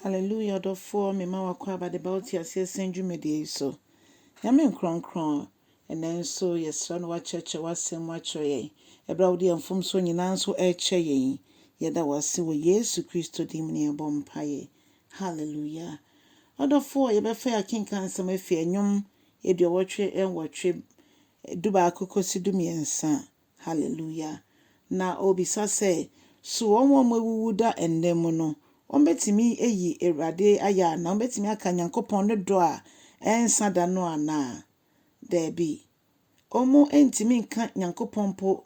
Hallelujah ɔdɔfoɔ mema wakɔ aba de ba wo te aseɛ sɛn dwumadie yi so. Nyame nkrɔnkrɔn ɛnɛ nso yɛsrɛ no wakyerɛkyerɛ wasɛm mu akyerɛ yɛn ɛberɛ a wode yɛn mfomsoɔ nyinaa nso ɛrekyɛ yɛn yi. Yɛda wo ase wɔ Yesu Kristo din mu ne yɛbɔ mpaeɛ. Hallelujah. Ɔdɔfoɔ yɛbɛfa yɛ akenkan nsɛm afiri ɛnwom aduɔwɔtwe nwɔtwe, dubaako kɔsi dumiɛnsa Haleluya! Na ɔrebisa sɛ, So wɔn a wɔawuwu da nnɛ mu no, wɔbɛtumi ayi Awurade ayɛ anaa? Wɔbɛtumi aka Nyankopɔn ne dɔ a ɛrensa da no anaa? Daabi. Wɔrentumi nka Nyankopɔn mpo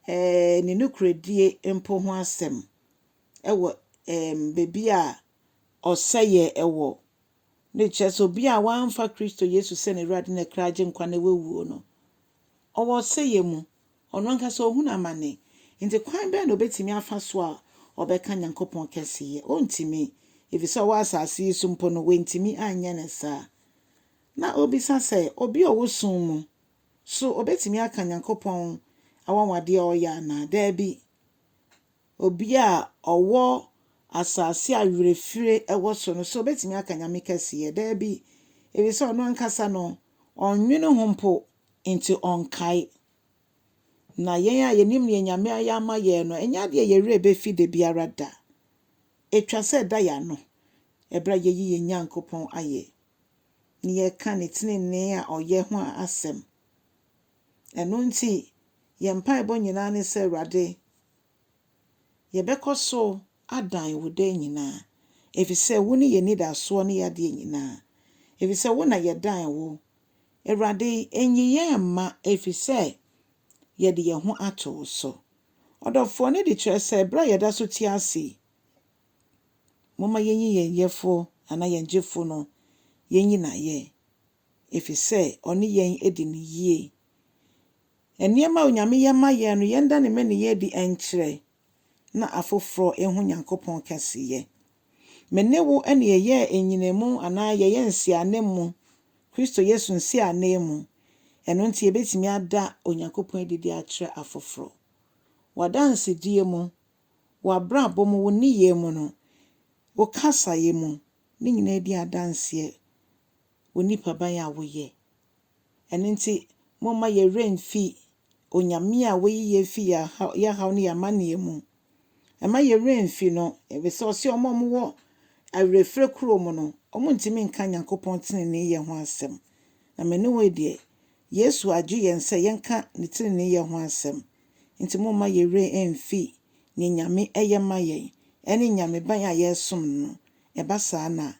ne nokorɛdie mpo ho asɛm wɔ baabi a ɔsɛeɛ wɔ. Ne kyerɛ sɛ, obi a wamfa Kristo Yesu sɛ n'Awurade ne Agyenkwa na wawuo no, Ɔwɔ ɔsɛeɛ mu. Ɔno ankasa ɔhunu amane. Enti kwan bɛn na ɔbɛtumi afa so a ɔbɛka Nyankopɔn kɛseyɛ? Ɔntumi, ɛfiri sɛ ɔwɔ asase yi so mpo no, wantumi anyɛ no saa. Na ɔrebisa sɛ, obi a ɔwɔ sum mu, so ɔbɛtumi aka Nyankopɔn anwanwadeɛ a ɔyɛ anaa? Daabi. obi a ɔwɔ asase a werɛfire wɔ so no, so ɔbɛtumi aka Nyame kɛseyɛ? Daabi, ɛfiri sɛ ɔno ankasa no, ɔnnwene ho mpo, enti ɔnkae. Na yɛn a yɛnim deɛ Nyame ayɛ ama yɛn no, ɛnyɛ adeɛ a yɛn werɛ bɛfi da biara da. Ɛtwa sɛ ɛda yɛn ano berɛ a yɛyi yɛn Nyankopɔn ayɛ, na yɛka Ne tenenee a ɔyɛ ho asɛm. Ɛno nti, yɛn mpaebɔ nyinaa ne sɛ, Awurade, Yɛbɛkɔ so adan wo daa nyinaa, efisɛ wo ne yɛn anidasoɔ ne yɛn adeɛ nyinaa, efisɛ wo na yɛdan wo, Awurade, nyi yɛn mma, efisɛ yɛde yɛn ho ato wo so. Ɔdɔfoɔ no de kyerɛ sɛ berɛ a yɛda so te ase yi, momma yɛnyi yɛn Yɛfoɔ anaa yɛn Gyefoɔ no, yɛnyi no ayɛ. efisɛ ɔne yɛn di no yie. Nneɛma a Onyame yɛ ma yɛn no, yɛnda ne mmaninyɛ adi nkyerɛ na afoforɔ ahu Nyankopɔn kɛseyɛ. Me ne wo na yɛyɛɛ nnyinamu anaa yɛyɛ nsiananmu, Kristo Yesu nsiananmu, ɛno nti yɛbɛtumi ada Onyankopɔn adi de akyerɛ afoforɔ. W'adansedie mu, w'abrabɔ mu, wo nneyɛɛ mu no, wo kasaeɛ mu, ne nyinaa di adanseɛ wo nipaban a woyɛ. Ɛno nti, momma yɛn werɛ mfi Onyame a wayi yɛn afi yɛn haw ne yɛn amanneɛ mu. Mma yɛn werɛ mfi no, efisɛ ɔse wɔn a wɔwɔ awerɛfirɛ kuro mu no, wɔntumi nka Nyankopɔn teneneeyɛ ho asɛm. Na me ne wo deɛ, Yesu agye yɛn sɛ yɛnka Ne teneneeyɛ ho asɛm. Nti momma yɛn werɛ mfi nea Nyame yɛ ma yɛn, ɛne Nyameban a yɛresom no no. Ɛba saa na.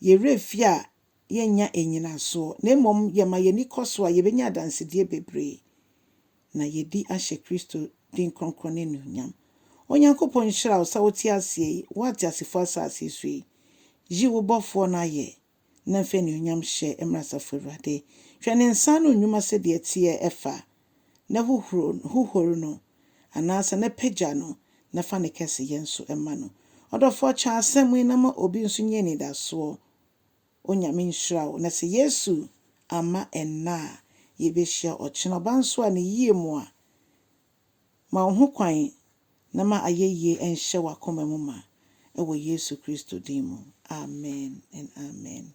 Yɛn werɛ fi a, yɛnnya nnyinasoɔ, na mmom yɛma yɛn ani kɔ so a, yɛbɛnya adansedie bebree, na yɛadi ahyɛ Kristo din kronkron no anuonyam. Onyankopɔn nhyira wo sɛ wote aseɛ yi, wo ateasefoɔ asase so yi. Yi wo Bɔfoɔ no ayɛ, na fa anuonyam hyɛ mmra Asafo Awurade. Hwɛ ne nsa ano nnwuma sɛdeɛ ɛteɛ fa. na hohoro no, hohoro no, anaasɛ na pagya no na fa ne kɛseyɛ nso ma no. Ɔdɔfoɔ kyɛ asɛm yi na ma obi nso nya anidasoɔ. Onyame nhyira wo. Na sɛ Yesu amma ɛnnɛ a, yɛbɛhyia ɔkyena. Ɔba nso a, ne yie mu a, ma wo ho kwan na ma ayɛyie nhyɛ w'akoma mu ma. Ɛwɔ Yesu Kristo din mu, amen and amen.